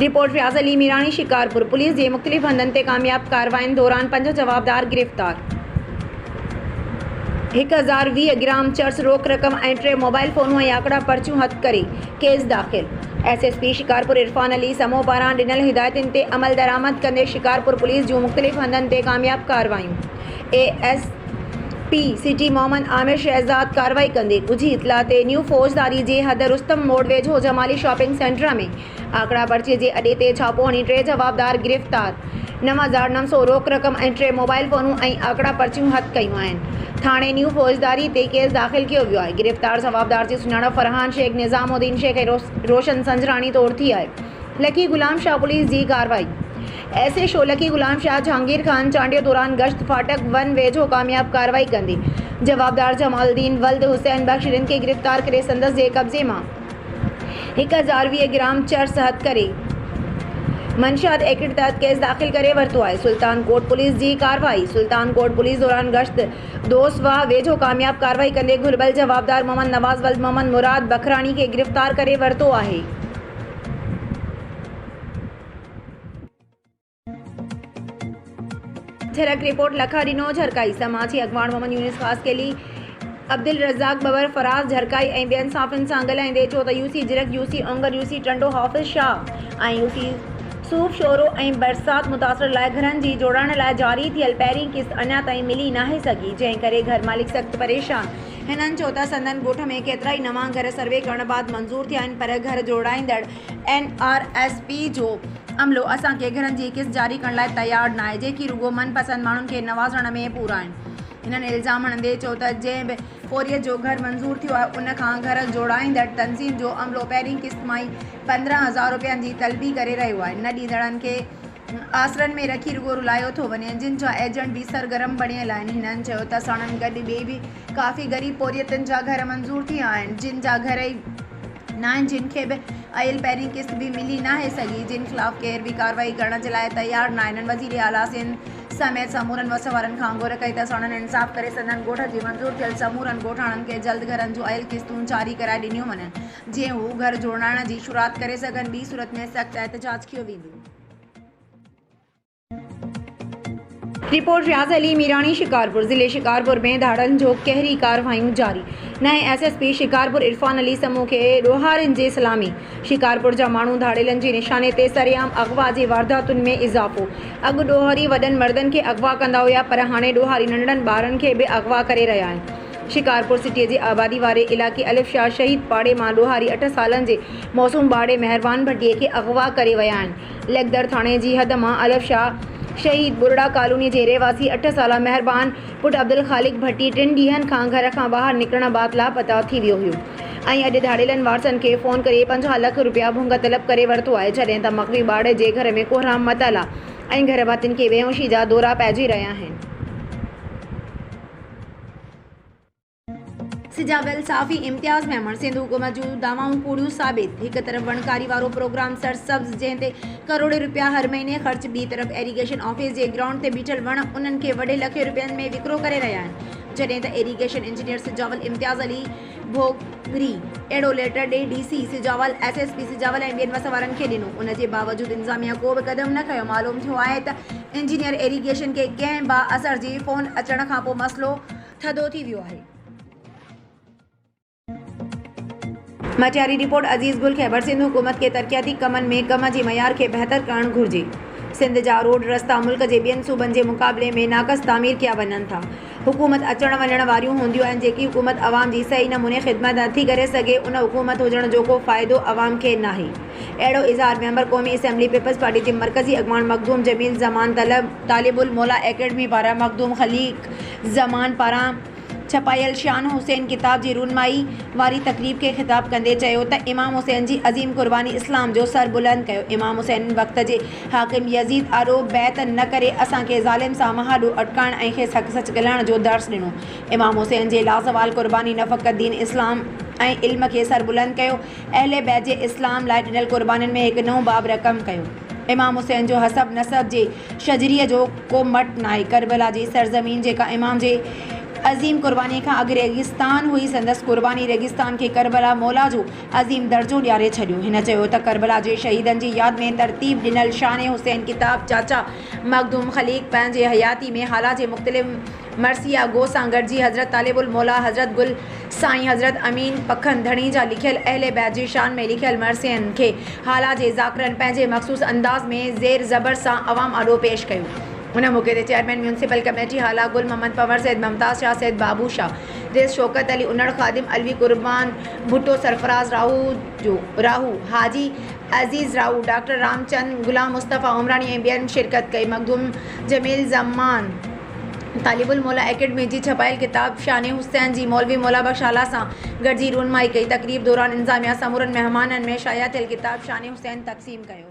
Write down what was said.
Report Fayaz Ali Mirani, Shikarpur, police جي مختلف هنڌن تي ڪامياب ڪاررواين دوران پنج جوابدار گرفتار، هڪ هزار ويهه گرام چرس روڪ رقم ۽ ٽي موبائل فونون ۽ آڪڙا پرچيون هٿ ڪري ڪيس داخل. S S P Shikarpur Irfan Ali Samoon پاران ڏنل هدايتن تي عملدرآمد ڪندي شڪارپور پوليس جون مختلف هنڌن تي ڪامياب ڪارروايون. A S P city Muhammad Amir Shahzad ڪارروائي ڪندي ڳجهي اطلاع تي نيو فوجداري جي حد رستم موڙ ويجهو جمالي شاپنگ سينٽر ۾ آکڙا پرچي جي اڏي تي ڇاپو هڻي ٽي جوابدار گرفتار نو هزار نو سؤ روڪ رقم ۽ ٽي موبائل فونون ۽ آکڙا پرچيون هٿ ڪيون آهن ٿاڻي نيو فوجداري تي ڪيس داخل ڪيو ويو آهي گرفتار جوابدار جي سڃاڻپ فرحان شيخ نظام الدين شيخ ۽ روشن سنجراڻي طور ٿي آهي لکي غلام شاهه پوليس جي ڪارروائي ايس اي شولڪي غلام شاهه جهانگير خان چانڊيو دوران گشت ڦاٽڪ ون ويجهو ڪامياب ڪارروائي ڪندي جوابدار جمال الدين ولد حسين بخش رند کي گرفتار ڪري سندس جي قبضي مان هڪ هزار ويهه گرام چرس هٿ ڪري منشيات ايڪٽ تحت ڪيس داخل ڪري ورتو آهي سلطان ڪوٽ پوليس جي ڪارروائي سلطان ڪوٽ پوليس دوران گشت دوس واهه ويجهو ڪامياب ڪارروائي ڪندي گهربل جوابدار محمد نواز ولد محمد مراد بکراڻي کي گرفتار ڪري ورتو آهي. جھرڪ، رپورٽ، لکا ڏنو جھرڪائي، سماجي اڳواڻ محمد يونس خاصخيلي، عبدالرزاق ٻٻر، فراز جھرڪائي ۽ ٻين صحافين سان ڳالهائيندي چيو ته U C Jhirk, U C Ongar, U C Tando, Hafiz Shah ۽ U C Sof Shoro ۽ برسات متاثرن لاء گھرن جي جوڙائڻ لاء جاري ٿيل پهرين قسط اڃا تائين ملي ناهي سگھي جنهن ڪري گھر مالڪ سخت پريشان آهن. هنن چيو ته سندن ڳوٺ ۾ ڪيترائي نوان گھر سروي ڪرڻ بعد منظور ٿيا آهن پر گھر جوڙائيندڙ اين آر ايس پي جو عملو اسان کي گهرن جي قسط جاري ڪرڻ لاء تيار ناهي، جيڪي رڳو من پسند ماڻهن کي نوازڻ ۾ پورا آهن. هنن الزام هڻندي چيو ته جنهن به پورهيت جو گهر منظور ٿيو آهي ان کان گهر جوڙائيندڙ تنظيم جو عملو پهرين قسط مان ئي پندرهن هزار رپين جي طلبي ڪري رهيو آهي، نه ڏيندڙن کي آسرن ۾ رکي رڳو رلايو ٿو وڃي، جن جا ايجنٽ به سرگرم بڻيل آهن، هنن چيو ته ساڻن گڏ ٻئي به ڪافي غريب پورهيتن جا گهر منظور ٿيا آهن، جن جا گهر ئي ناهن جن کي به ايل پهرين قسط به ملي ناهي سگهي جن خلاف ڪير به ڪارروائي ڪرڻ جي لاء تيار ناهن هن وزير اعليٰ سنڌ سميت سمورن وس وارن کان گهر ڪئي ته ساڻن انصاف ڪري سندن ڳوٺ جي منظور ٿيل سمورن ڳوٺاڻن کي جلد گهرن جون ايل قسطون جاري ڪرائي ڏنيون وڃن جيئن هو گهر جوڙائڻ جي شروعات ڪري سگهن ٻي صورت ۾ سخت احتجاج ڪيو ويندو. رپورٽ، رياض علي ميراڻي، شڪارپور، ضلعي شڪارپور ۾ ڌاڙن جون قهري ڪارروايون جاري، نئين S S P Shikarpur Irfan Ali Samoon کي ڏوهارين جي سلامي، شڪارپور جا ماڻهو ڌاڙيلن جي نشاني تي، سرعام اغوا جي وارداتن ۾ اضافو، اڳ ڏوهاري وڏن مردن کي اغوا ڪندا هيا پر هاڻي ڏوهاري ننڍڙن ٻارن کي به اغوا ڪري رهيا آهن، شڪارپور سٽي جي آبادي واري علائقي الف شاهه شهيد پاڙي مان ڏوهاري اٺ سالن جي معصوم ٻارڙي مهربان ڀٽي کي اغوا ڪري ويا آهن. ليڪدر ٿاڻي جي حد مان الف شاهه شهيد ٻرڙا ڪالوني جي رهواسي اٺ سالا مهربان پٽ عبدالخالق ڀٽي ٽن ڏينهن کان گهر کان ٻاهر نڪرڻ بعد لاپتا ٿي ويو هيو ۽ اڄ ڌاڙيلن وارثن کي فون ڪري پنجاهه لک رپيا ڀونگ طلب ڪري ورتو آهي جڏهن ته مغوي ٻاڙ جي گهر ۾ ڪوهرام متالا ۽ گهر ڀاتين کي بيهوشي جا دورا پئجي رهيا آهن. سجا ويل صحافي امتياز ميمڻ سنڌ حڪومت جون دعوائون ڪوڙيون ثابت هڪ طرف وڻڪاري وارو پروگرام سرسبز جنهن تي ڪروڙين رپيا هر مهيني خرچ ٻي طرف ايريگيشن آفيس جي گرائونڊ تي بيٺل وڻ انهن کي وڍي لکين رپين ۾ وڪرو ڪري رهيا آهن جڏهن ته ايريگيشن انجنيئر سجاول امتياز علي ڀوڳري اهڙو ليٽر ڏي D C Sujawal S S P Sujawal ۽ ٻين وس وارن کي ڏنو ان جي باوجود انتظاميا ڪو به قدم نه کنيو معلوم ٿيو آهي ته انجنيئر ايريگيشن کي ڪنهن بااثر جي فون اچڻ کانپوء مسئلو ٿڌو ٿي ويو آهي. مٿياري رپورٽ، عزيز گل خيبرسنڌ حڪومت کي ترقياتي ڪمن ۾ ڪم جي معيار کي بهتر ڪرڻ گهرجي، سنڌ جا روڊ رستا ملڪ جي ٻين صوبن جي مقابلي ۾ ناقص تعمير ڪيا وڃن ٿا، حڪومت اچڻ وڃڻ واريون هونديون آهن، جيڪي حڪومت عوام جي صحيح نموني خدمت نٿي ڪري سگهي ان حڪومت هجڻ جو ڪو فائدو عوام کي ناهي اهڙو اظهار ميمبر قومي اسيمبلي پيپلز پارٽي جي مرڪزي اڳواڻ مخدوم جميل زمان طلب طالب الموليٰ اڪيڊمي پاران مخدوم خليق زمان پاران ڇپايل شان حسين ڪتاب جي رونمائي واري تقريب کي خطاب ڪندي چيو ته امام حسين جي عظيم قرباني اسلام جو سر بلند ڪيو امام حسين وقت جي حاڪم يزيد آڏو بيعت نه ڪري اسان کي ظالم سان مهاڏو اٽڪائڻ ۽ کيس حق سچ ڳلهائڻ جو درس ڏنو امام حسين جي لازوال قرباني نه فقط دين اسلام ۽ علم کي سر بلند ڪيو اهل بيت جي اسلام لاء ڏنل قربانين ۾ هڪ نئون باب رقم ڪيو امام حسين جو حسب نسب جي شجري جو ڪو مٽ ناهي ڪربلا جي سرزمين جيڪا امام جي عظيم قربانيء کان اڳ ريگستان هئي سندس قرباني ريگستان کي ڪربلا مولا جو عظيم درجو ڏياري ڇڏيو هن چيو ته ڪربلا جي شهيدن جي ياد ۾ ترتيب ڏنل شان حسين ڪتاب چاچا مخدوم خليق پنهنجي حياتي ۾ هالا جي مختلف مرثيه اگهو سان گڏجي حضرت طالب الموليٰ حضرت گل سائين حضرت امين پکن ڌڻي جا لکيل اهل بيت جي شان ۾ لکيل مرثين کي هالا جي ذاڪرن پنهنجي مخصوص انداز ۾ زير زبر سان عوام آڏو پيش ڪيو. ان موقعي تي chairman municipal committee Hala Gul Muhammad Panhwar Syed Mumtaz Shah Syed Babu Shah Rais Shaukat Ali Unar Khadim Alvi Qurban Bhutto Sarfaraz Rahoojo Rahu Haji Aziz Rahu doctor Ram Chand Ghulam Mustafa Umrani ۽ ٻين شرڪت ڪئي مخدوم جميل زمان طالب الموليٰ ايڪيڊمي جي ڇپايل ڪتاب شان حسين جي مولوي موليٰ بخش آلا سان گڏجي رونمائي ڪئي. تقريب دوران انتظاميا سمورن مهمانن ۾ شايع ٿيل ڪتاب شان حسين تقسيم ڪيو.